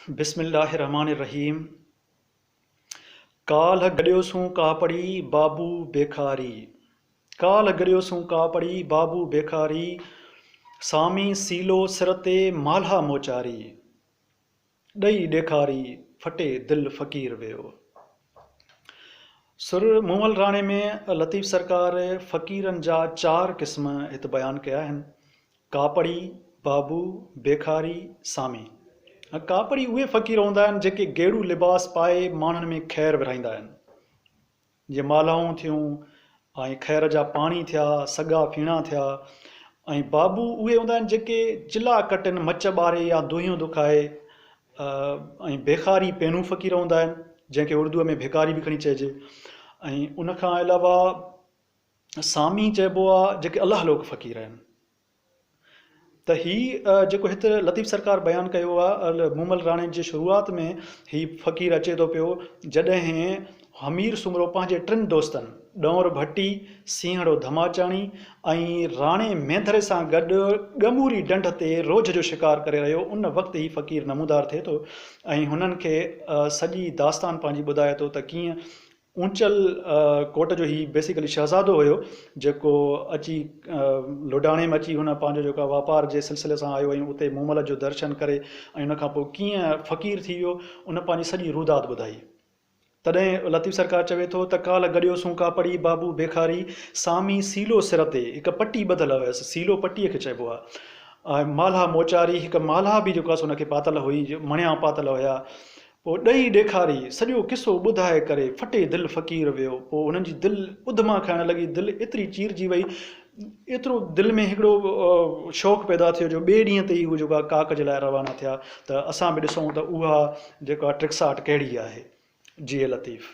بسم الله الرحمٰن الرحيم ڪالهه گڏيوسون ڪاپڙي بابو بيخاري ڪالهه گڏيوسون ڪاپڙي بابو بيخاري سامي سيلو سر تي مالها موچاري ڏئي ڏيکاري ڦٽي دل فقير ويو سر مومل راڻي ۾ لطيف سرڪار فقيرن جا چار قسم هت بيان ڪيا آهن ڪاپڙي، بابو، بيخاري، سامي ۽ ڪاپڙي اهي فقير هوندا آهن جيڪي گيڙو لباس پائي ماڻهن ۾ خير ورهائيندا آهن. جيئن مالهائون ٿيون ۽ خير جا پاڻي ٿيا، سڳا ڦيڻا ٿيا ۽ بابو اهي هوندا آهن جيڪي چلها ڪٽن، مچ ٻاري يا دونهيون دکائي ۽ بيخاري پينهون فقير هوندا آهن جنهن کي اردوء ۾ ڀيڪاري به کڻي چئجي ۽ ان کان علاوه سامي چئبو آ جيڪي الله لوڪ فقير آهن ته هي جيڪو هت لطيف سرڪار بيان ڪيو آ مومل راڻي جي شروعات ۾ هي فقير اچي ٿو پيو جڏهن حمير سومرو پنهنجي ٽن دوستن ڏؤر ڀٽي سينهڙو ڌماچاڻي ۽ راڻي مينڌري سان گڏ ڳموري ڊنڍ تي روجهه جو شڪار ڪري رهيو ان وقت هي فقير نمودار ٿئي ٿو ۽ هنن کي سڄي داستان پنهنجي ٻڌائي ٿو ته ڪيئن اونچل ڪوٽ جو هي بيسيڪلي شهزادو هيو جيڪو اچي لوڊاڻي ۾ اچي هن پنهنجو جيڪو آهي واپار جي سلسلي سان آيو ۽ اتي مومل جو درشن ڪري ۽ ان کان پوء ڪيئن فقير ٿي ويو ان پنهنجي سڄي روداد ٻڌائي تڏهن لطيف سرڪار چوي ٿو ته ڪالهه گڏيو سون ڪاپڙي بابو بيخاري سامي سيلو سر تي هڪ پٽي ٻڌل هيس سيلو پٽي کي چئبو آهي مالها موچاري هڪ مالها به جيڪو آهي سو ان کي پاتل هئي مڻيا پاتل هيا پوء ڏئي ڏيکاري سڄو قصو ٻڌائي ڪري ڦٽي دل فقير ويو پوء هنن جي دل اڌما کائڻ لڳي دل ايتري چيرجي وئي ايترو دل ۾ هڪڙو شوق پيدا ٿيو جو ٻئي ڏينهن تي ئي هو جيڪو آهي ڪاڪ جي لاء روانا ٿيا ته اسان به ڏسون ته اها جيڪو آهي ٽرڪساٽ ڪهڙي آهي جي اي لطيف.